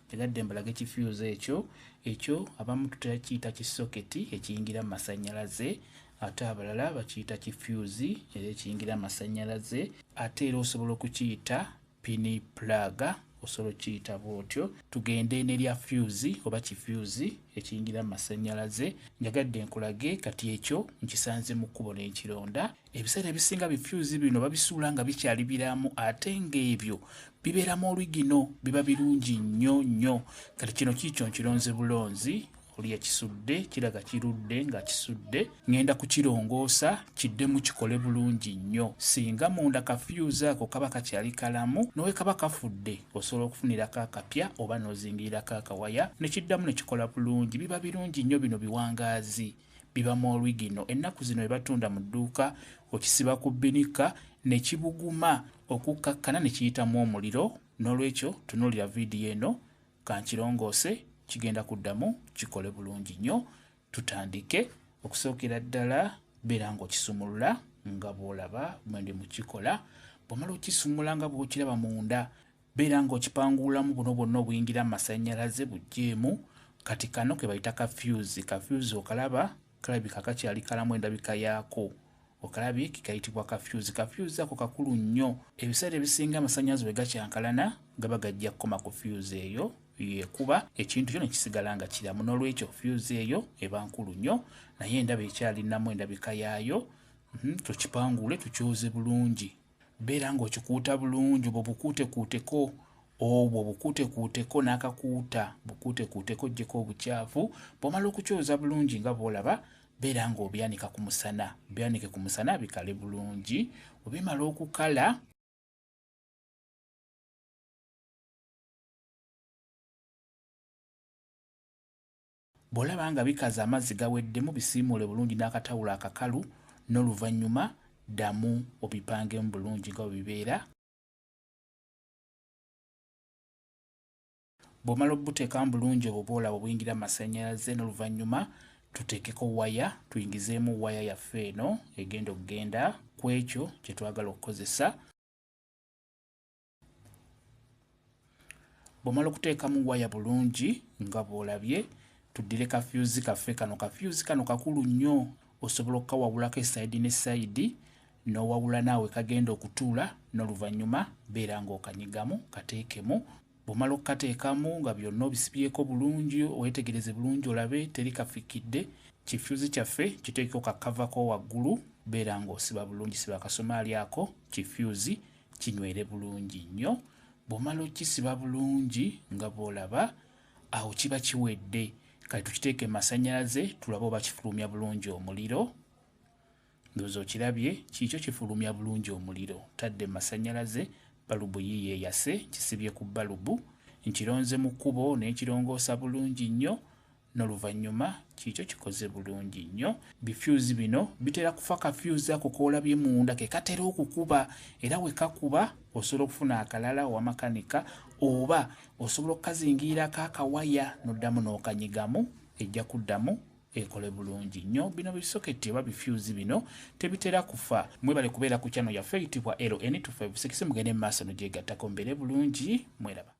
Njagadde mbalage ki fuse ekyo ekyo abamu tutakiyita ki soketi ekiyingira mu masannyalaze ate abalala bakiyita ki fuse era ekiyingira mu masannyalaze ate era osobola okukiyita pini pulaga osobola okukiyita bw'otyo tugende nerya fuse oba ki fuse ekiyingira mu masannyalaze njagadde nkulage kati ekyo nkisanze mu kkubo n'ekironda ebiseera ebisinga bifyuzi bino babisuula nga bikyali biramu ate ng'ebyo bibeeramu olwigino biba birungi nnyo nnyo kati kino kiikyo nkironze bulonzi oli yakisudde kiraga kirudde nga kisudde ŋŋenda kukirongoosa kiddemu kikole bulungi nnyo singa munda kafyuzi ako kaba kakyali kalamu nowe kaba kafudde osobola okufunirako akapya oba n'ozingirirako akawaya ne kiddamu ne kikola bulungi biba birungi nnyo bino biwangaazi biba mu origino ennaku zino webatunda mu dduuka okisiba ku binika ne kibuguma okukkakkana ne kiyitamu omuliro n'olwekyo tunuulira vidiyo eno kankirongoose kigenda kuddamu kikole bulungi nnyo tutandike okusookera ddala beera ng'okisumulula nga bw'olaba mwendi mukikola bwomala okisumula nga bw'okiraba munda Beera nga okipanguulamu buno bwonna obuyingira mu masannyalaze buggyeemu kati kano ke bayita ka fuse. Ka fuse okalaba? Kalabika kakyali kalamu endabika yaako. Okalabye ke kayitibwa ka fuse. Ka fuse ako kakulu nnyo. Ebiseera ebisinga amasannyalaze bwe gakyankalana gaba gajja kukoma ku fuse eyo yekuba ekintu kyo ne kisigala nga kiramu. N'olwekyo fuse eyo eba nkulu nnyo naye endaba ekyalinamu endabika yaayo. Mhm, tukipanguule tukyoze bulungi. Beera ng'okikuuta bulungi, obwo bukuutekuuteko, obwo bukuutekuuteko n'akakuuta, bukuutekuuteko oggyeko obucaafu. Bw'omala okukyoza bulungi nga bw'olaba, beera ng'obyanika ku musana, byanike ku musana bikale bulungi. Bwe bimala okukala, Bw'olaba nga bikaze amazzi gaweddemu bisiimuule bulungi n'akatawulo akakalu n'oluvannyuma ddamu obipangemu bulungi nga bwe bibeera. Bw'omala obuteekamu bulungi obwo bw'olaba obuyingira mu masannyalaze n'oluvannyuma tuteekeko waya tuyingizeemu waya yaffe eno egenda okugenda ku ekyo kye twagala okukozesa. bwomala okuteekamu waya bulungi nga bwolabye tuddire kafyuzi kaffe kano kafyuzi kano kakulu nnyo osobola okukawawulako esayidi ne sayidi n'owawula naawe kagenda okutuula n'oluvannyuma beera ng'okanyigamu kateekemu bwomala okukateekamu nga byonna obisibyeko bulungi weetegereze bulungi olabe teri kafikidde kifyuzi kyaffe kiteekeko kakavako waggulu beera ng'osiba bulungi siba akasomaali ako kifyuzi kinywere bulungi nnyo bw'omala okisiba bulungi nga bw'olaba awo kiba kiwedde kati tukiteeke masannyalaze tulabe oba kifulumya bulungi omuliro ndowooza okirabye kiikyo kifulumya bulungi omuliro tadde masannyalaze balubu yiiyo eyase kisibye ku balubu nkironze mu kkubo n'ekirongoosa bulungi nnyo noluvannyuma kiikyo kikoze bulungi nnyo. Bi fuse bino bitera kufa ka fuse ako koolabye munda ke katera okukuba era we kakuba osobola okufuna akalala owa makanika oba osobola okukazingiirako akawaya n'oddamu n'okanyigamu ejja kuddamu ekole bulungi nnyo bino bisoketi oba bifyuzi bino tebitera kufa mwebale kubeera ku kyano yaffe eyitibwa ln256 mugende mu maaso nogyegattako mbeere bulungi mweraba